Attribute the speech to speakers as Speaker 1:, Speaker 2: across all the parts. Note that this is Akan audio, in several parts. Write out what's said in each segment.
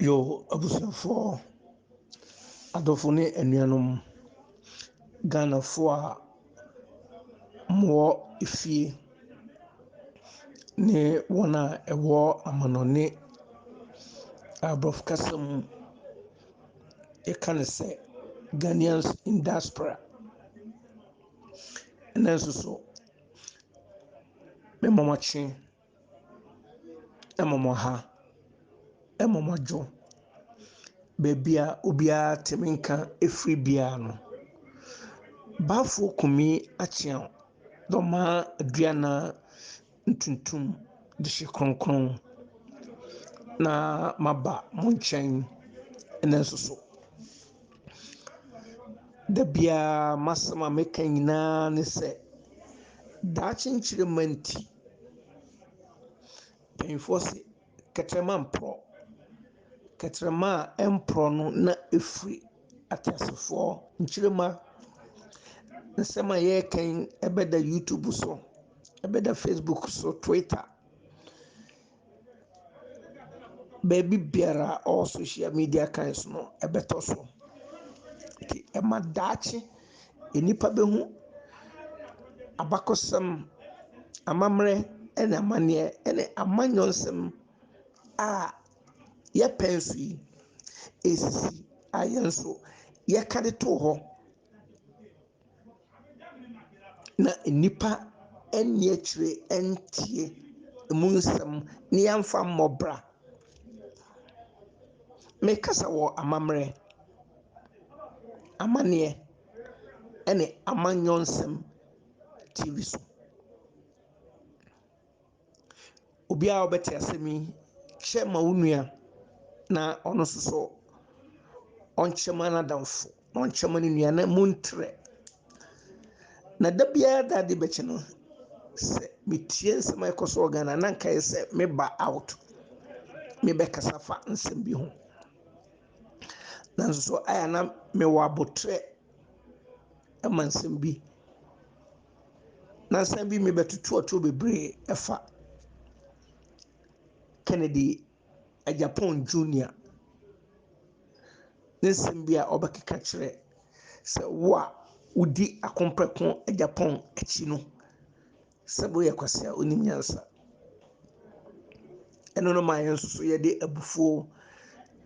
Speaker 1: Yoh, abusuafoɔ, adɔfo ne anuanom, Ghanafoɔ a wɔwɔ efie ne wɔn a wɔwɔ amanɔne a Aborɔfo kasa mu yɛka no sɛ Ghanaians in Diaspora, ɛnnɛ nso so Mmomɔkye, mmomɔha, mmomɔdwo, baabi a obiara te me nka firi biara no, Bafo Kumi Akyea Dormaa Aduanan Ntuntum de hye kronkron na maba mo nkyɛn nnɛ nso so. Da biara m'asɛm a meka nyinaa ne sɛ, daakye nkyirimma nti, mpanyinfoɔ se kɛtrɛma mporɔ. Kɛtrɛma a ɛmporɔ no na ɛfiri ateasefoɔ nkyirimma. Nsɛm a yɛreka yi ɛbɛda YouTube so, ɛbɛda Facebook so, Twitter. Baabi biara a ɔwɔ sohyial media kan so no, ɛbɛtɔ so. Nti ɛma daakye nnipa bɛhu abakɔsɛm, amammerɛ ne amanneɛ ne amanyɔ nsɛm a yɛpɛ so yi, ɛsisi a yɛn nso yɛka de too hɔ. na nnipa nni akyire ntie ɛmu nsɛm na yɛmfa mmɔ bra. Mekasa wɔ amammerɛ, amanneɛ ne amanyɔsɛm TV so. Obiara a ɔbɛte asɛm yi, kyɛ ma wo nua na ɔno nso so ɔnkyɛ ma n'adamfo, na ɔnkyɛ ma ne nua na montrɛ. Na da biara da ade bɛkye no, sɛ metie nsɛm a ɛkɔ so wɔ Ghana na nka yɛ sɛ meba out, mebɛkasa fa nsɛm bi ho. Nanso so ayɛ a na mewɔ abotrɛ ma nsɛm bi. Nansa bi mebɛtoto atoro bebree ɛfa Kennedy Agyapong Junior ne nsɛm bi a ɔbɛkeka kyerɛ sɛ wo a wodi Akompɔkɔ Agyapong akyi no sɛ woyɛ kwasea wonim nyansa. Ɛno no maa yɛn nso so yɛde abufuo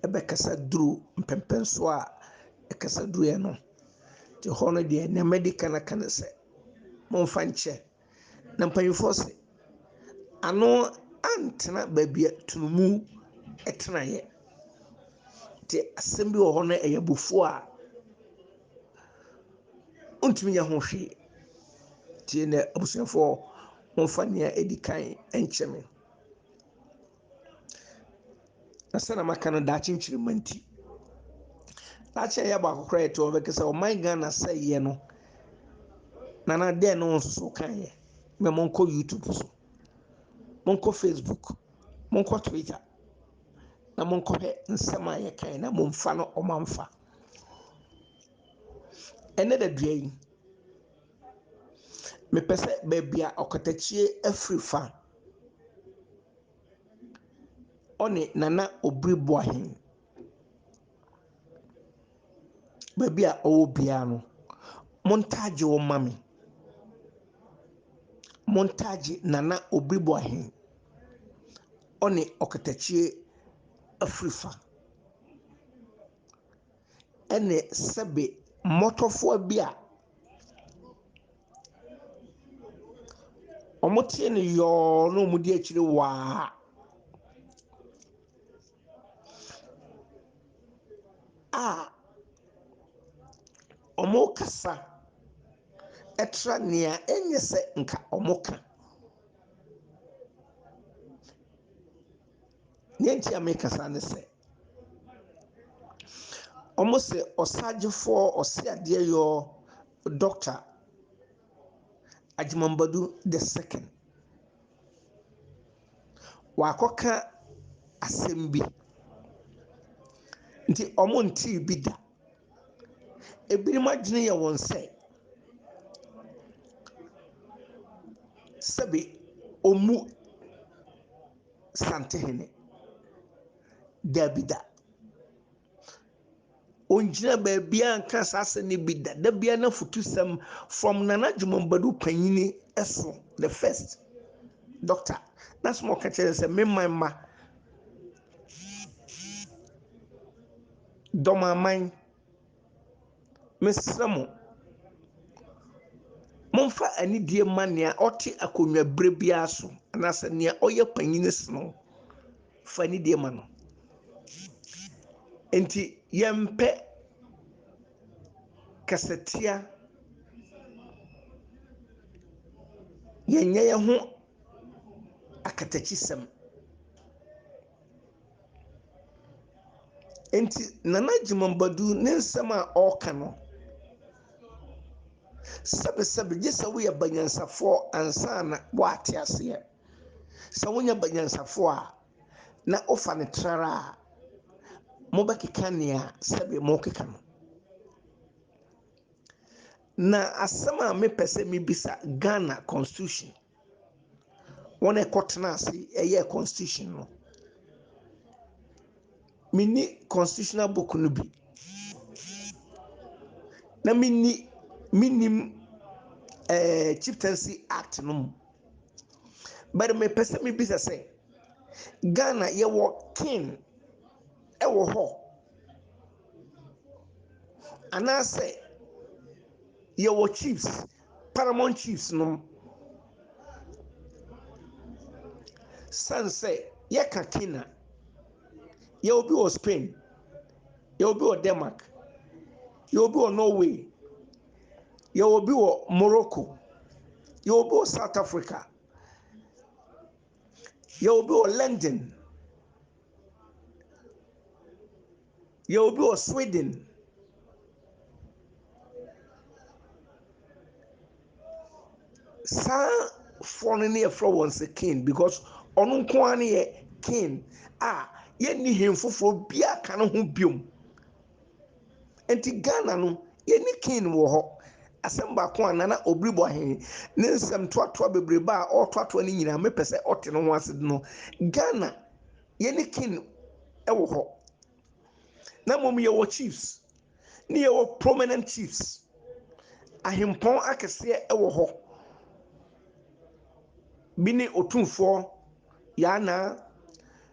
Speaker 1: ɛbɛkasa duru mpɛmpɛnsoɔ a ɛkasa duruiɛ no. Nti hɔ no deɛ nea mɛdi kan aka ne sɛ momfa nkyɛ. Na mpanyinfoɔ se ano antena baabi a tunumu ɛtena yɛ. Nti asɛm bi wɔ hɔ no ɛyɛ abufuo a wontumi nyɛ ho hwee. Nti ɛnɛ abusuafoɔ momfa nea ɛdi kan nkyɛ me. Na sɛnea maka no daakye nkyirimma nti, daakye a ɛyɛ baako koraa yɛte hɔ bɛka sɛ ɔman Ghana sɛeɛ no na na dɛn na ɔnsoso kaeɛ mɛ monkɔ YouTube so monkɔ Facebook monkɔ Twitter na monkɔhwɛ nsɛm a yɛkae na momfa no ɔmamfa ɛnɛ da dua yi Mepɛ sɛ baabi a ɔkatakyie afiri fa. Ɔne Nana Obiri Boahen. Baabi a ɔwɔ biara no, montagye wɔn mma me. Montagye Nana Obiri Boahen. Ɔne ɔkatakyie afiri fa. Ɛne sɛbe mmɔtɔfowa bi a. Wɔtee no yɔɔ na wɔdi akyire waa. A wɔkasa kyerɛ nea ɛnyɛ sɛ anka wɔka. Nea nti a meka saa ne sɛ. Wɔse ɔsagyefoɔ, ɔseadeɛyɔɔ, dɔkta, Agyemang Badu the second. Wakɔka asɛm bi. Nti wɔntee bi da. Ebinom adwene yɛ wɔn sɛ, sɛbe ɔmmu. Santehene. Daabi da. Ɔngyina baabiara nka saa asɛm no bi da. Da biara n'afutusɛm from Nana Jumah Badu panyin so, the first doctor, n'asɛm a ɔka kyerɛ sɛ me man mma, dɔm aman. Mesrɛ mo, momfa anidie mma nea ɔte akonnwa berɛ biara so anaasɛ nea ɔyɛ panyin sen wo. Fa anidie ma no. Enti yɛmpɛ kasatia, yɛnyɛ yɛn ho akatakyisɛm. Nti Nana Gyimah Badu ne nsɛm a ɔreka no, sɛbesɛbe gye sɛ woyɛ banyansafoɔ ansa na woate aseɛ. Sɛ wonyɛ banyansafoɔ a, na wofa no trara a, mobɛkeka nea sɛbe morekeka no. Na asɛm a mepɛ sɛ mebisa Ghana constitution, Wɔn a ɛkɔ tena ase yɛɛ constitution no, me nni constitutional book no bi, na me nni me nnim ɛɛ chieftaincy act no mu. But me pɛ sɛ me bisa sɛ, Ghana yɛ wɔ king ɛwɔ hɔ? Anaa sɛ yɛ wɔ chiefs? Paramount Chiefs nom. Sane sɛ yɛka Kane a, yɛwɔ bi wɔ Spain, yɛwɔ bi wɔ Denmark, yɛwɔ bi wɔ Norway, yɛwɔ bi wɔ Morocco, yɛwɔ bi wɔ South Africa, yɛwɔ bi wɔ London. Yɛ obi wɔ Sweden. Saa foɔ no ne yɛfrɛ wɔn sɛ kin because ɔno nko ara ne yɛ kin a yɛnni hen foforɔ biara ka ne ho biom. Nti Ghana no yɛni king wɔ hɔ. Asɛm baako a Nana Obiri Boahen ne nsɛm toatoa bebrebe a ɔretoatoa no nyinaa mepɛ sɛ ɔte ne ho ase de no, Ghana yɛni king wɔ hɔ. Na mmom yɛwɔ chiefs ne yɛwɔ prominent chiefs. Ahempɔn akɛseɛ wɔ hɔ. Bi ne Otumfoɔ Yaa Naa.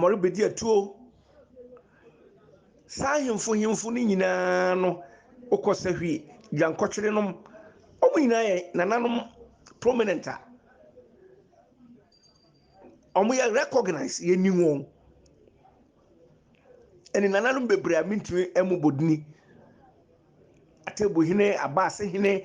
Speaker 1: wɔrebɛdi atuo. Saa ahemfo hemfo no nyinaa no, wokɔ sahwi, dwankɔtwere nom, wɔn nyinaa yɛ nananom prominent a wɔyɛ recognize, yɛnim wɔn. Ɛne nananom bebree a mentumi ɛmu bɔ dini. Atebu hene, abaase hene,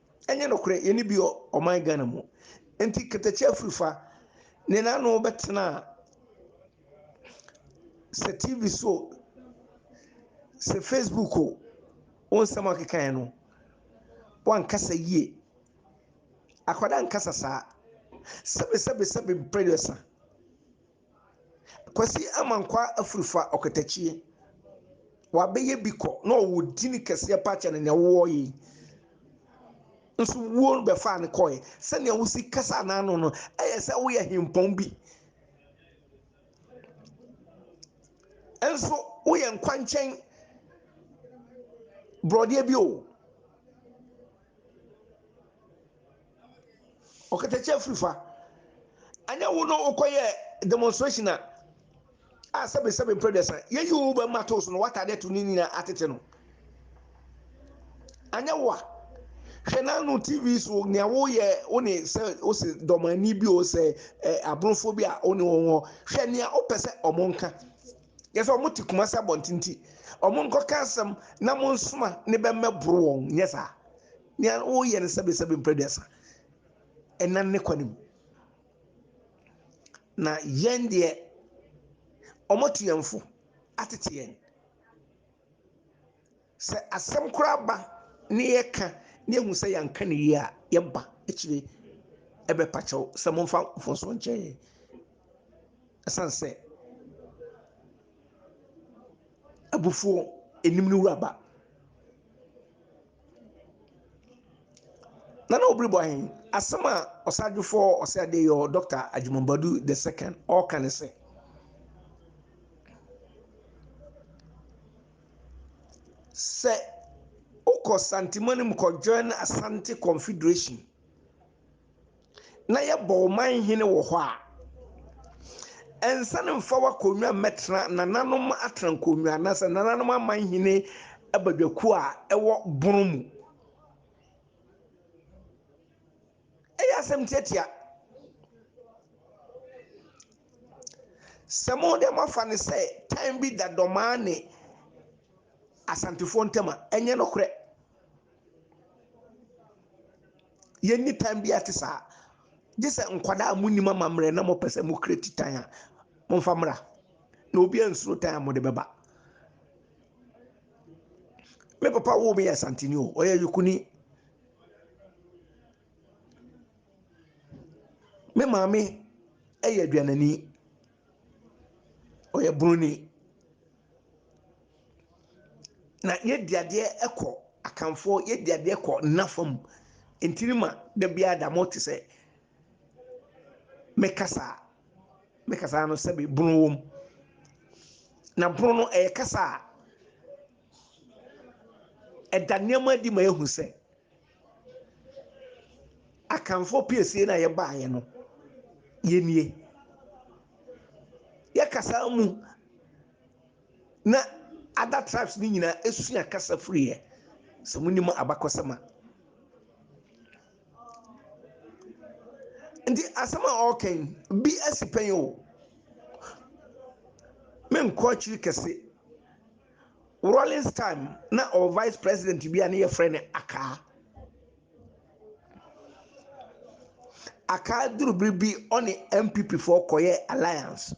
Speaker 1: Ɛnyɛ nokorɛ yɛne bi wɔ ɔman Ghana mu nti katakyi afirifa ne n'ano bɛtena sɛ TV so sɛ Facebook o wo nsɛm a ɔkekaeɛ no wankasa yie akwadaa nkasa saa sɛbesɛbesɛbe mprɛduasa Kwasi Amankwa afiri fa ɔkatakyie wabɛyɛ bi kɔ na ɔwɔ dini kɛseɛ paa kyɛne nea wowɔ yi nso wuo bɛfaa no kɔɛ sɛnea wosi kasa n'ano no ɛyɛ sɛ woyɛ hempɔn bi nso woyɛ nkwankyɛn borɔdeɛ bi o Ɔkatakyia afiri fa. Ɛnyɛ wo na wokɔ yɛ demonstration a a sɛbe sɛbe mpere dɛsa yɛyi wo bɛ ma to so no wata adeɛ to ne nyina atete no. Ɛnyɛ wo a hwɛ na no TV so nea woyɛ wo ne sɛ wo se dɔmani bi o sɛ ɛ abronfoɔ bi a wo ne wɔn hɔ hwɛ nea wopɛ sɛ wɔn nka. Yɛ sɛ wɔn te kuma sɛ abɔntenti wɔn nkɔka asɛm na mo nsoma ne bɛ mmɛboro wɔn nyɛ saa. Nea woyɛ no sɛbesɛbe mpere aduasa ɛnam ne kwa no mu. Na yɛn deɛ, wɔatu yɛn fo atete yɛn. Sɛ asɛm koraa ba na yɛka na yɛhu sɛ yɛanka no yie a, yɛba akyire bɛpa kyɛw sɛ momfa mfomsoɔ nkyɛ yɛn. Ɛsiane sɛ abufuo anim no wura ba. Nana Obiri bɔ ahen, asɛm a Ɔsadwefoɔ Ɔsɛ Adeɛyɔɔ Dɔkta Agyemang Badu the second ɔɔka ne sɛ. Sɛ wokɔ Santeman mu kɔ join Asante Confederation. na yɛbɔ wo man hene wɔ hɔ a, ɛnsane mfa w'akonnwa mmɛtena nananom atrankonnwa anaasɛ nananom aman hene abadwakuo a ɛwɔ bono mu. Ɛyɛ asɛm tiatia. Sɛ mo deɛ moafa no sɛ tan bi da dɔmaa ne asantefoɔ ntam a, ɛnyɛ nokorɛ. Yenni tan biara te saa, gye sɛ nkwadaa a munnim amammerɛ na mopɛ sɛ mokura ti tan a, momfa mmra, na obiara nsuro tan a mode bɛba. Me papa woo me yɛ Asanteni o, ɔyɛ Yukuni. Me maame yɛ Aduanani, ɔyɛ Buroni. Na yɛdi adeɛ kɔ Akanfoɔ, yɛdi adeɛ kɔ Nna fam. Nti ne ma da biara da mote sɛ me kasa a, me kasa no sɛbe bono wɔ mu. Na bono no ɛyɛ kasa a ɛda nneɛma adi ma yɛhu sɛ. Akanfoɔ piesie no a yɛbaeɛ no, yɛnnie. Yɛ kasa mu na other tribes no nyinaa ɛsua kasa firiiɛ. Sɛ mo nim abakɔsɛm a. Nti asɛm a ɔreka yi, bi asi pɛn o. Menkɔ akyiri kɛse. Rawlings time na ɔwɔ vice president bi a ne yɛfrɛ no Akaa. Akaa duru bere bi ɔne NPP foɔ kɔyɛ alliance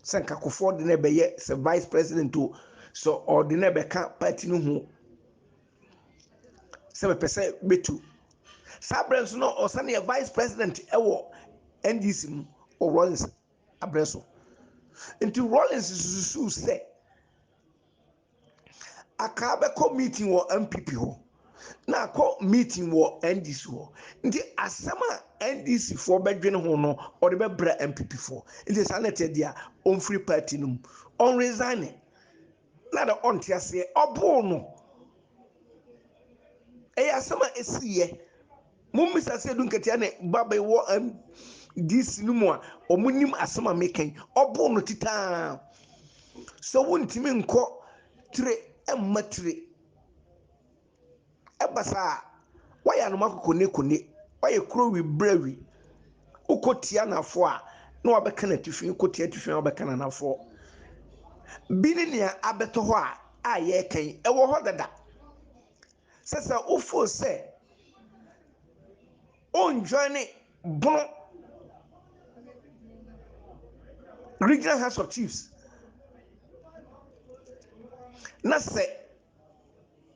Speaker 1: sɛ nka Kufuor de no bɛyɛ sɛ vice president o sɛ ɔde no bɛka party no ho sɛ mepɛ sɛ bɛtu. Saa berɛ nso na ɔsane yɛ vice president wɔ NDC mu wɔ Rawlings bere so. Enti Rawlings susuw sɛ Akaa bɛkɔ meeting wɔ NPP hɔ na akɔ meeting wɔ NDC hɔ. Enti asɛm a NDCfoɔ bɛdwene ho no ɔde bɛbrɛ NPPfoɔ. Enti saa na ɛteɛ deɛ a, ɔmfiri party no mu. Ɔnresigne. na na ɔnte aseɛ, ɔboo no. Ɛyɛ asɛm a ɛsiiɛ. Mommisa sɛ Edu Nketiah ne Babe wɔ MDC no mu a, wɔnim asɛm a meka yi. Ɔboo no titaa. Sɛ wontumi nkɔ tire mma tire. Ɛba saa a, wɔyɛ anoma kokonekone, wɔyɛ kurowi birawi. Wokɔtia anafoɔ a, na wɔabɛka n'atifi, wokɔtia atifi a, na wɔabɛka n'anafoɔ. Bi ne nea abɛtɔ hɔ a a yɛreka yi, ɛwɔ hɔ dada. Sɛ sɛ wofoo sɛ wonjoine Bono Regional House of Chiefs na sɛ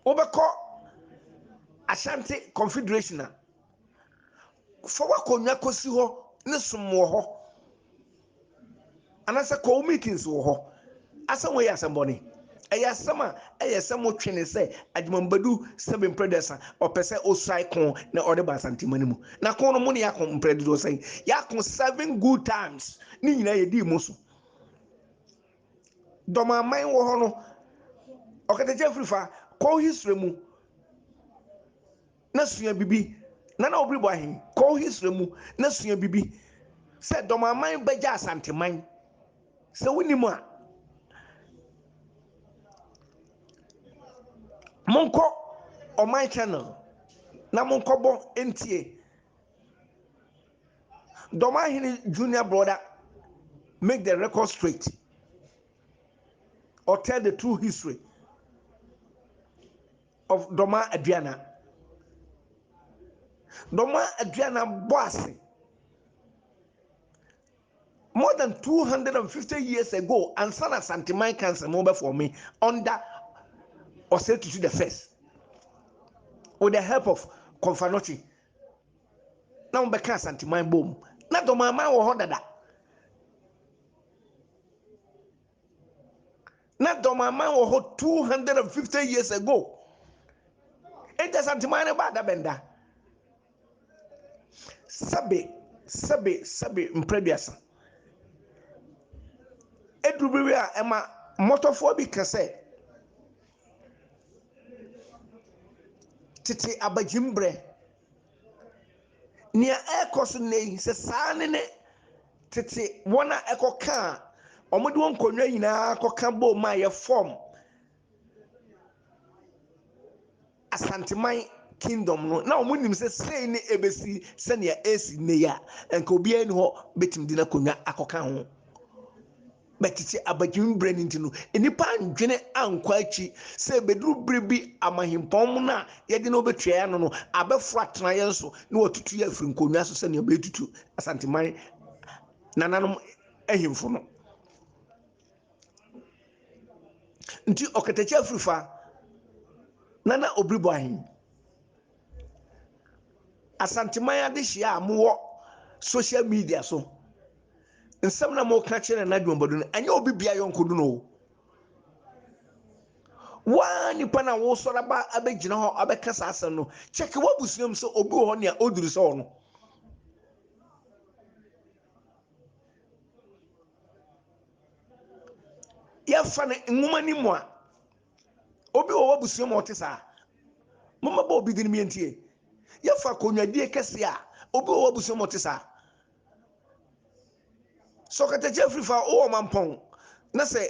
Speaker 1: wobɛkɔ Ashanti Confederation a, fa w'akonnwa kɔsi hɔ ne som wɔ hɔ, anaasɛ kɔ wo meetings wɔ hɔ. Asɛm wei yɛ asɛm bɔne. Ɛyɛ asɛm a ɛyɛ sɛ motwe ne sɛ Agyimam bɛdu sɛbe mprɛ duasa, ɔpɛ sɛ ɔsuae ko na ɔde ba Asantema no mu. Na ko no, mo ne yɛako mprɛ dodoɔ sɛn? Yɛako seven good times, ne nyinaa yɛdii mo so. Dɔmaman wɔ hɔ no, ɔkatakyɛ afiri fa, kɔ wo history mu na sua bibi. Nana Obiri Boahen, kɔ wo history mu na sua bibi. Sɛ Dɔmaman bɛgya Asanteman, sɛ wonim a, monkɔ ɔman channel na monkɔbɔ ntie. Dɔm ahene junior brother make the record straight or tell the true history of Dɔma Aduana. Dɔma Aduana bɔ ase more than 250 years ago ansa na Santeman Council no bɛfɔ me under Ɔsɛ Tutu the first with the help of Kɔmfanɔkye. na wɔbɛka Asanteman bom. Na Dɔmanman wɔ hɔ dada. Na Dɔmanman wɔ hɔ 250 years ago. Enti Asanteman no baa da bɛnda. Sɛbe, sɛbe, sɛbe mprɛduasa. Eduru bi a ɛma mmɔtɔfoɔ bi ka sɛ, Tete abadwemma berɛ, nea ɛrekɔ so nnɛ yi, sɛ saa ne ne tete wɔn a ɛkɔka a wɔde wɔn nkonnwa nyinaa kɔka boom a yɛfɔm asanteman kingdom no na wɔn nim sɛ sei ne ebesi sɛnea esi nnɛ yi a nka obiara ni hɔ betumi de n'akonnwa akɔka ho. Na tete abagyimi berɛ no nti no, nnipa andwene ankɔ akyi sɛ ɛbɛduru berɛ bi a mahempɔn mono a yɛde no bɛtua yɛn ano no abɛforo atena yɛn so na watutu yɛn afiri nkonnwa so sɛdeɛ wɔatutu Asanteman nananom ahemfo no. Nti ɔkatakyi afiri fa Nana Obiribɔ ahen. Asanteman adehyeɛ a mowɔ social media so, nsɛm na moka kyerɛ Nana Adwumabodu no, ɛnyɛ obi bia yɔnkodu no o. Waa nipa na wosɔre aba abɛgyina hɔ abɛka saa asɛm no, kyɛke w'abusua mu sɛ obi wɔ hɔ nea oduru sɛ ɔno. Yɛfa no nwoma no mu a, Obi wɔ w'abusua mu a ɔte saa? Mommɛbɔ obi din bi ntie. Yɛfa konwadie kɛseɛ a, obi wɔ w'abusua mu a ɔte saa? Sɛ ɔkatakyia afiri fa wowɔ mampɔn na sɛ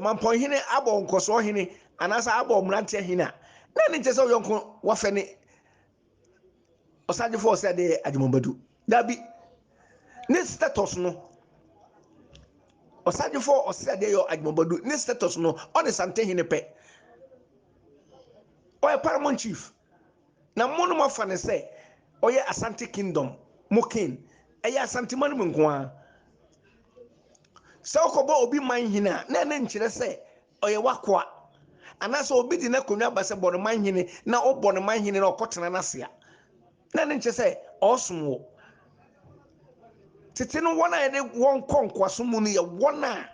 Speaker 1: mampɔn hene abɔ nkɔsoɔ hene anaasɛ abɔ mmeranteɛ hene a, na ne nkyɛ sɛ woyɔnko wafɛ ne ɔsan gye fɔɔ sɛ de agyemɔbadu dabi ne status no ɔsan gye fɔɔ ɔsɛ de yɔ agyemɔbadu ne status no ɔne santehene pɛ ɔyɛ paramount chief na mo no moafa ne sɛ ɔyɛ asante kingdom mo king ɛyɛ asante ma no mu nko ara sɛ ɔkɔbɔ obi man hene a na ɛne nkyerɛ sɛ Ɔyɛ w'akoa. Anaasɛ obi de n'akonwa ba sɛ bɔ no manhene na wobɔ no manhene na ɔkɔtena n'ase a, na ɛno nkyerɛ sɛ ɔresom wo. Tete no wɔn a yɛde wɔn kɔ nkoasom mu no yɛ wɔn a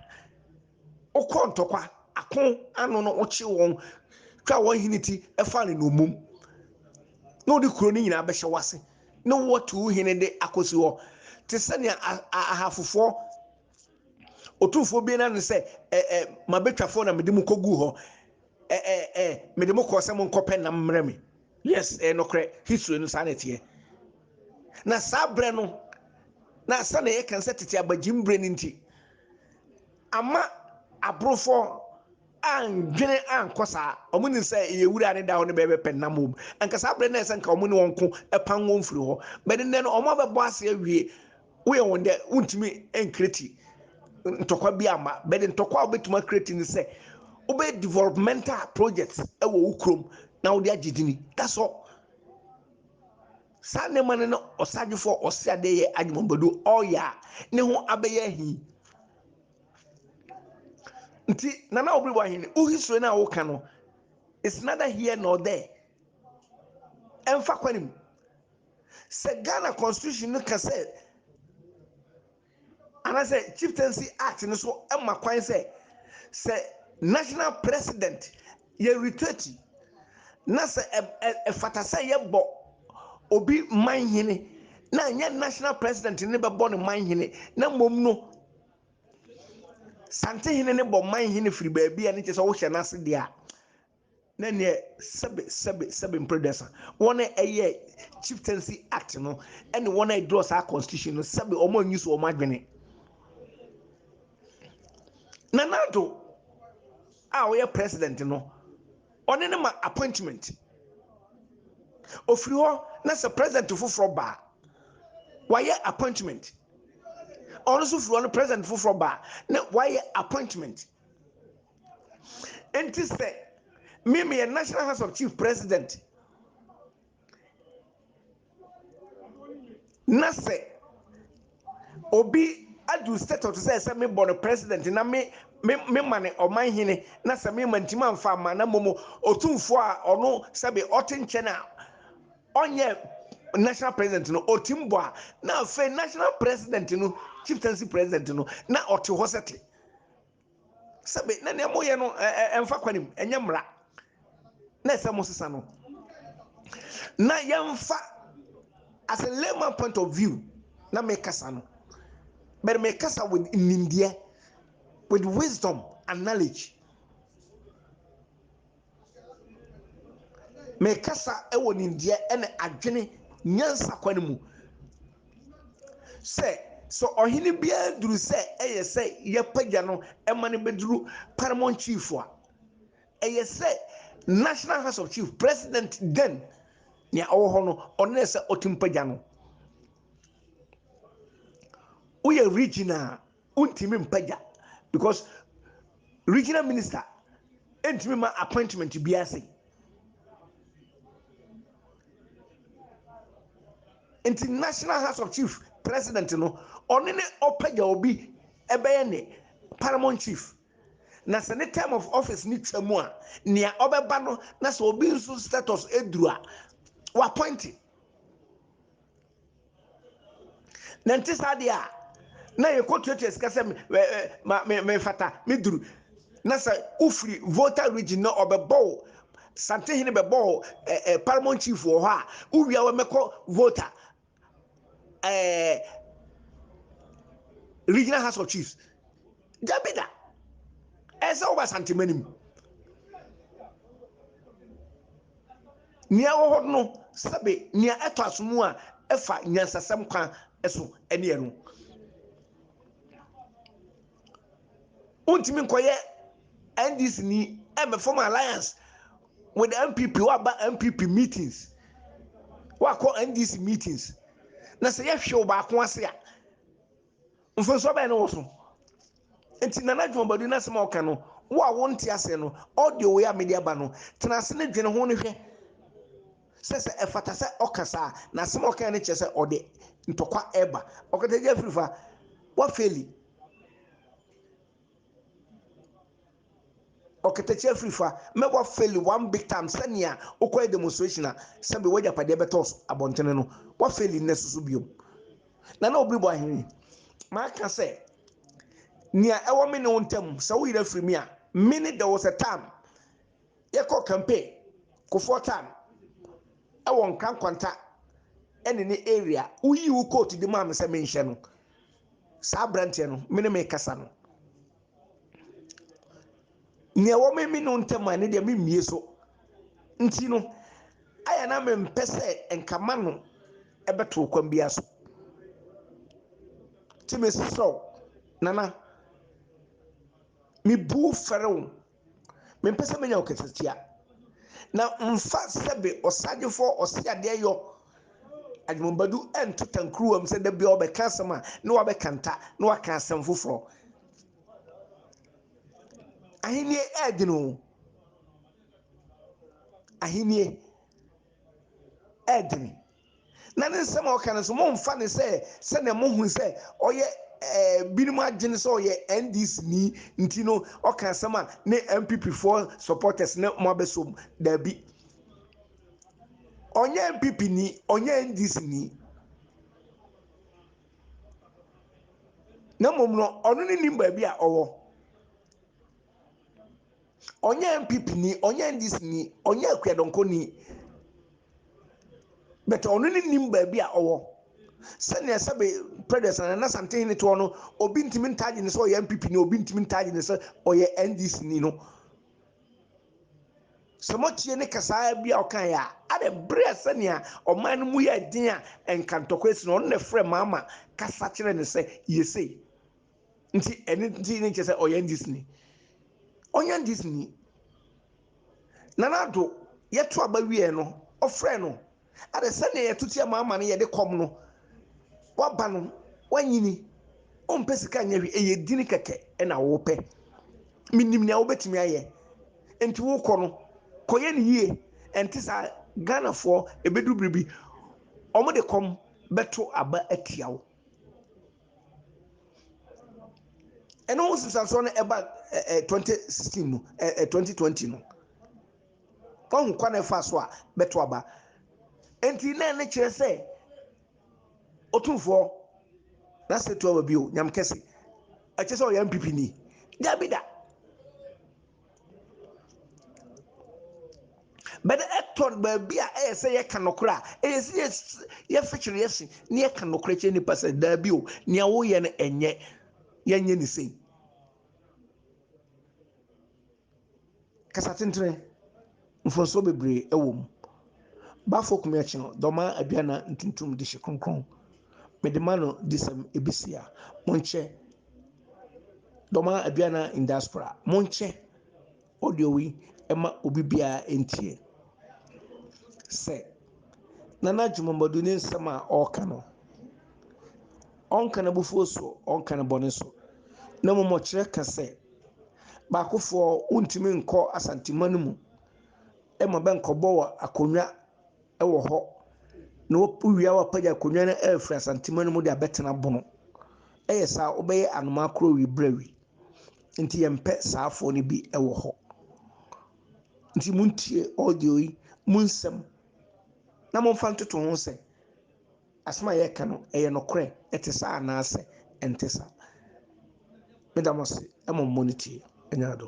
Speaker 1: wokɔɔ ntɔkwa, ako, ano no wokyee wɔn, twaa wɔn hene ti faa no nnommum, na wode kuro no nyinaa bɛhyɛ w'ase, ne wo atu wo hene de akɔsi hɔ, te sɛ nea Ahafofoɔ Otumfoɔ bi na ne sɛ, ɛ, ɛ, m'abɛtwafoɔ na mede mo kɔguu hɔ. Ɛ, ɛ, ɛ, mede mo kɔɔ sɛ monkɔpɛ nam mmerɛ me. Yes, ɛyɛ nokorɛ. History no saa na ɛteɛ. Na saa berɛ no, na sɛdeɛ yɛka sɛ tete abagyim berɛ no nti, ama aborofoɔ andwene ankɔ saa. Wɔn nim sɛ yɛ wura ne da hɔ ne bɛbɛpɛ nam wɔ mu. Anka saa berɛ no na ɛsɛ nka wɔn ne wɔn ko pan wɔn firi hɔ. Bɛde nnɛ no, wɔn abɛbɔ ase awie Woyɛ wɔn dɛ wontumi nkreti ntɔkwa bi amma, but ntɔkwa a wobɛtumi akreti ne sɛ wobɛyɛ developmental projects wɔ wo kurom na wode agye dini. That's all. Saa nneɛma no na ɔsadwefoɔ a ɔse adeɛ yɛ adwumabadu ɔreyɛ a ne ho abɛyɛ ahi. Nti Nana Obiribo Ahene, wo history no a woka no, it's neither here nor there. Ɛmfa kwan mu. Sɛ Ghana constitution no ka sɛ anaasɛ Chieftaincy Act no so ma kwan sɛ sɛ National President yɛ retreat na sɛ ɛfata sɛ yɛbɔ obi manhene na ɛnyɛ National President ne bɛbɔ no manhene na mmom no Santehene ne bɔ manhene firi baabi a ne kyɛ sɛ wohyɛ n'ase deɛ a na neɛ sɛbe sɛbe sɛbe mprɛdɛsa wɔn a ɛyɛ chieftaincy act no ɛne wɔn a ɛdrɔ saa constitution no sɛbe wɔn anyi so wɔn adwene na nado a ɔyɛ president no ɔne ne ma appointment ofiri hɔ na sɛ president foforɔ baa wayɛ appointment ɔno nso firi hɔ no president foforɔ baa na wayɛ appointment Enti sɛ me meyɛ National House of Chief President na sɛ obi adu state of sɛ sɛ mebɔ no president na me me mema ne ɔman hene na sɛ mema ntima mfa ama na mmom otumfoɔ a ɔno sɛbe ɔte nkyɛn a ɔnyɛ national president no ɔtim bɔ a na afei national president no chieftaincy president no na ɔte hɔ sɛ te sɛbe na nea moyɛ no ɛmfa kwan mu ɛnyɛ mmara na ɛsɛ mo sesa no na yɛmfa as a layman point of view na mekasa no but mekasa with nimdeɛ with wisdom and knowledge Mekasa wɔ nimdeɛ ne adwene nyansa kwan mu sɛ, sɛ ɔhene biara duru sɛ ɛyɛ sɛ yɛpagya no ma no bɛduru Paramount Chief a, ɛyɛ sɛ National House of Chief President then nea ɔwɔ hɔ no, ɔno na ɛsɛ ɔtumi pagya no. Woyɛ regional a, Wontumi mpagya because regional minister ntumi ma appointment biara sɛi. Nti National House of Chief president no ɔne ne ɔpagya obi ɛbɛyɛ ne paramount chief na sɛ ne term of office ne twa mu a nea ɔbɛba no na sɛ obi nso status ɛduru a wappointe Na ɛnte saa deɛ a, na yɛkɔtuatua sika sɛ ma me mefata me duru. Na sɛ wofiri Volta region na ɔbɛbɔ wo Santehene bɛbɔ wo ɛ ɛ Paramount Chief wɔ hɔ a, wowia wɔ mɛkɔ Volta ɛɛ Regional House of Chiefs. Dabi da, ɛsɛ woba Santema no mu. Nea ɛwɔ hɔ no, sɛbe nea ɛtɔ asom a ɛfa nyansasɛm kwan so ne ɛno. Wontumi nkɔyɛ NDC ni ɛmmɛfɔm alliance with NPP, woaba NPP meetings, woakɔ NDC meetings, na sɛ yɛhwe wo baako ase a, Mfomsoɔ bɛn na ɛwɔ so? Nti Nana Jumabadu n'asɛm a ɔka no, wo a wonte aseɛ no, audio wei a mede aba no, tena ase ne dwene ho ne hwɛ sɛ sɛ ɛfata sɛ ɔka saa a, na asɛm a ɔkaeɛ no kyerɛ sɛ ɔde ntɔkwa ɛreba. Ɔkatagyafiri fa, woafeeli. Ɔkatakyie afirifa, mɛ wa fail one big time sɛnea wo kɔɛ demonstration a sɛbi wɔ agyapadeɛ bɛ tɔɔ abɔntene no wa fail nnɛ soso biom Nana Obiri bɔ ahene yi ma ka sɛ nea ɛwɔ me ne wo ntam sɛ wo yera firi me a me ne dɛ wo sɛ tam yɛ kɔ campaign kofoɔ tam ɛwɔ nkra nkwanta ɛne ne area wo yi wo coat de maa me sɛ me nhyɛ no saa aberanteɛ no me ne me kasa no nea ɛwɔ me me no ntɛm a ne deɛ me mmie so nti no ayɛ na me mpɛ sɛ nka ma no ɛbɛto kwan bi aso ti me sisrɛw nana me bu fɛrɛw. Mempɛ sɛ menya ɔkasatia. Na mfa sɛbe ɔsadwefoɔ a ɔse adeɛ yɔ Agyemong Badu nto tankuruwa mu sɛ da biara ɔbɛka asɛm a na wabɛka nta na waka asɛm foforɔ. Ahennie ɛɛdwene o. Ahennie ɛɛdwene. Na ne nsɛm a ɔka no nso, mommfa no sɛ sɛnea mohu sɛ ɔyɛ binom adwene sɛ ɔyɛ NDC-ni nti no ɔka asɛm a ne NPP-foɔ supporters ne mo abɛsom. Daabi. Ɔnyɛ NPP-ni, ɔnyɛ NDC-ni. Na mmom no, ɔno ne nim baabi a ɔwɔ. ɔnyɛ NPP ni, ɔnyɛ NDC ni, ɔnyɛ Akuadɔnkɔ ni, but ɔno ne nim baabi a ɔwɔ. Sɛnea sɛbe Predes anaa n'Asantehene toɔ no, obi ntumi ntaagye no sɛ ɔyɛ NPP ni, obi ntumi ntaagye no sɛ ɔyɛ NDC ni no, sɛ motie ne kasaa bi a ɔkaeɛ a, adɛ bere a sɛnea ɔman no mu yɛɛ den a nka ntɔkwa asi no, ɔno na ɛfrɛ Mahama kasa kyerɛɛ no sɛ yɛ sei. Nti ɛno nti ne kyerɛ sɛ ɔyɛ ndisini. Ɔnyɛ ndisini. Nana Addo yɛto aba wieɛ no ɔfrɛɛ no adɛ sɛdeɛ yɛto tia ma ama no yɛde kɔm no waba no wanyini ɔmpɛ sika nyɛ hwee ɛyɛ dini kɛkɛ ɛna wopɛ menim nea wobɛtumi ayɛ nti wokɔ no kɔyɛ no yie ɛnte saa Ghanafoɔ ɛbɛdu biribi wɔn de kɔm bɛto aba atia wo Ɛno ho nsunsuansoɔ no ɛba ɛ ɛ twenty sixteen mu ɛ ɛ twenty twenty no wɔn ho kwan ɛfa so a bɛto aba nti na ɛne kyerɛ sɛ otumfoɔ na se to aba bio nyam kɛse ɛkyɛ sɛ ɔyɛ npp ni dabi da. But ɛtɔ baabi a ɛyɛ sɛ yɛka nokorɛ a, ɛyɛ sɛ yɛ yɛfekyere yɛ se na yɛka nokorɛ kyerɛ nipa sɛ daabi o, nea woyɛ no ɛnyɛ, yɛnyɛ ne sei. Kasa tentene. Mfomsoɔ bebree wɔ mu. Bafo Kumiakye no dɔmaa aduanan ntuntum de hye kronkron. Mede ma no disɛm ebisia. Monkyɛ dɔmaa aduanan indiaspora. Monkyɛ audio yi ma obi biara ntie. Sɛ. Nana Gyimamadu ne nsɛm a ɔreka no, ɔnka n'abufuo soɔ, ɔnka ne bɔne so, na mmom ɔkyerɛ ka sɛ, baakofoɔ wontumi nkɔ Asantema no mu ma bɛnkɔbɔ wɔ akonnwa wɔ hɔ na wowie a woapagya akonnwa no afiri Asantema no mu de abɛtena bono. Ɛyɛ saa wobɛyɛ anomaa korɔ awi berɛ awi. Nti yɛmpɛ saafoɔ no bi wɔ hɔ. Nti montie audio yi mu nsɛm na momfa ntoto ho sɛ asɛm a yɛreka no, ɛyɛ nokorɛ, ɛte saa anaasɛ ɛnte saa. Meda mo ase ma mommɔ no tie. Ɛnyɛ ado.